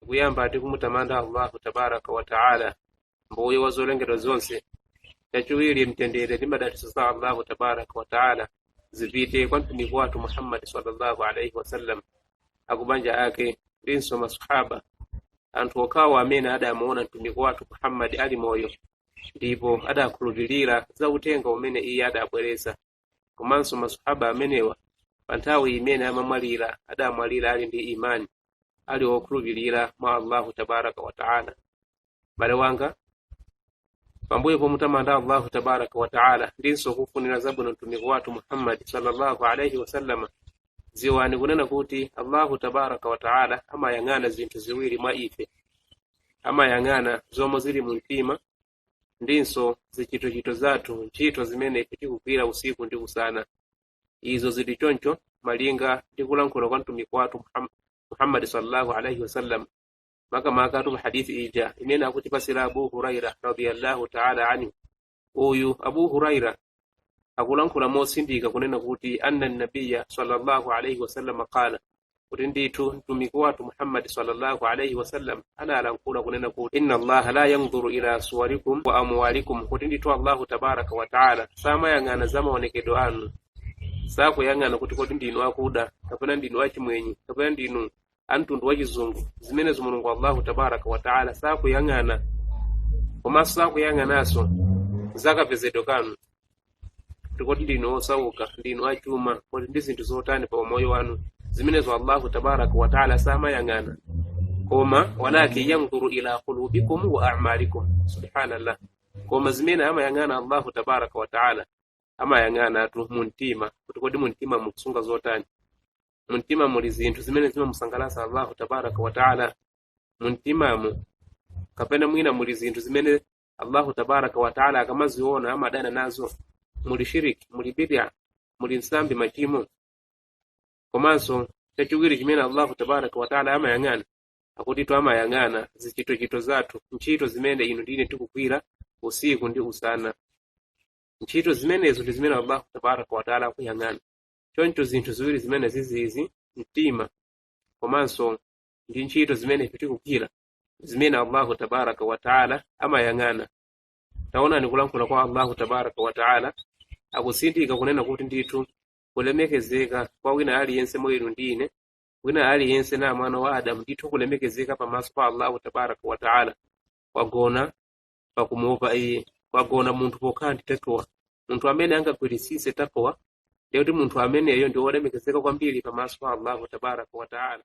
kuyamba ndi kumutamanda allahu tabaraka wa taala mbuye wa zolengedwa zonse chachiwiri mtendere ndi madalitso za allahu tabaraka wa taala zipite kwa mtumiki wathu muhammadi sallallahu alaihi wasallam akubanja ake ndinso masahaba anthu okhawo amene adamuona mtumiki wathu muhammadi ali moyo ndipo adakhulupirira za uthenga umene iye adabweretsa komanso masahaba amenewa pa nthawi imene amamwalira adamwalira ali ndi imani ali okhulupirira mwa allahu tabaraka wataala bale wanga pambuyo pomutamanda allahu tabaraka wataala ndinso kufunira zabwino mtumiki wathu muhammadi sallallahu alaihi wasallama ziwani kunena kuti allahu tabaraka wataala amayang'ana zinthu ziwiri mwa ife amayang'ana zomwe zili mu mtima ndinso zichitochito zathu, ntchito zimene ife tikugwira usiku ndi usana. Izo zili choncho malinga ndi kulankhula kwa Mtumiki wathu Muham- Muhammadi sallallahu alaihi wasallam makamakatu mu hadithi ija imene akutipasira Abu Huraira radhiyallahu ta'ala anhu. Uyu Abu Huraira akulankhula motsindika kunena kuti anna nabiya sallallahu alaihi wasallam qala kuti ndithu mtumiki wathu muhammadi sallallahu alaihi wasallam analankhula kunena kuti inna allaha la yandhuru ila suwarikum wa amwalikum kuti ndithu allahu tabaraka wa taala samayang'ana za maonekedwe anu sakuyang'ana kuti kodi ndinu akuda kapena ndinu achimwenye kapena ndinu amtundu wachizungu zimenezo mulungu allahu tabaraka wa taala sakuyang'ana komanso sakuyang'ananso zakapezedwe kanu kuti kodi ndinu osauka ndinu achuma kodi ndi zinthu zotani pa umoyo wanu zimenezo allahu tabaraka wataala samayang'ana koma walakin yanduru ila qulubikum wa amalikum subhanallah koma zimene amayang'ana allahu tabaraka wataala amayang'anatu mumtima kuti kodi mumtima mukusunga zotani mumtima muli zinthu zimene zimamusangalatsa allahu tabaraka wataala mumtimamu kapena mwina muli zinthu zimene allahu tabaraka wataala akamaziona amadana nazo muli shiriki muli bidya muli nsambi machimo komanso chachiwiri chimene allahu tabaraka wataala amayang'ana akutitu amayang'ana zichitochito zathu ntchito zimene inu ndi ine tikugwira usiku ndi usana ntchito zimenezo ndi zimene allahu tabaraka wataala akuyang'ana choncho zinthu ziwiri zimenezizi mtima komanso ndi ntchito zimene ife tikugwira zimene allahu tabaraka wataala amayang'ana taonani kulankhula kwa allahu tabaraka wataala akutsindika kunena kuti ndithu kulemekezeka kwa wina aliyense mwa inu ndi ine wina aliyense na mwana wa adamu ndithu kulemekezeka pamaso pa allahu tabaraka wataala kwagona pakumuopa iye kwagona munthu pokhala ndi taqwa munthu amene angagwiritsitse taqwa ndiye kuti munthu ameneyo ndi wolemekezeka kwambiri pamaso pa allahu tabaraka wataala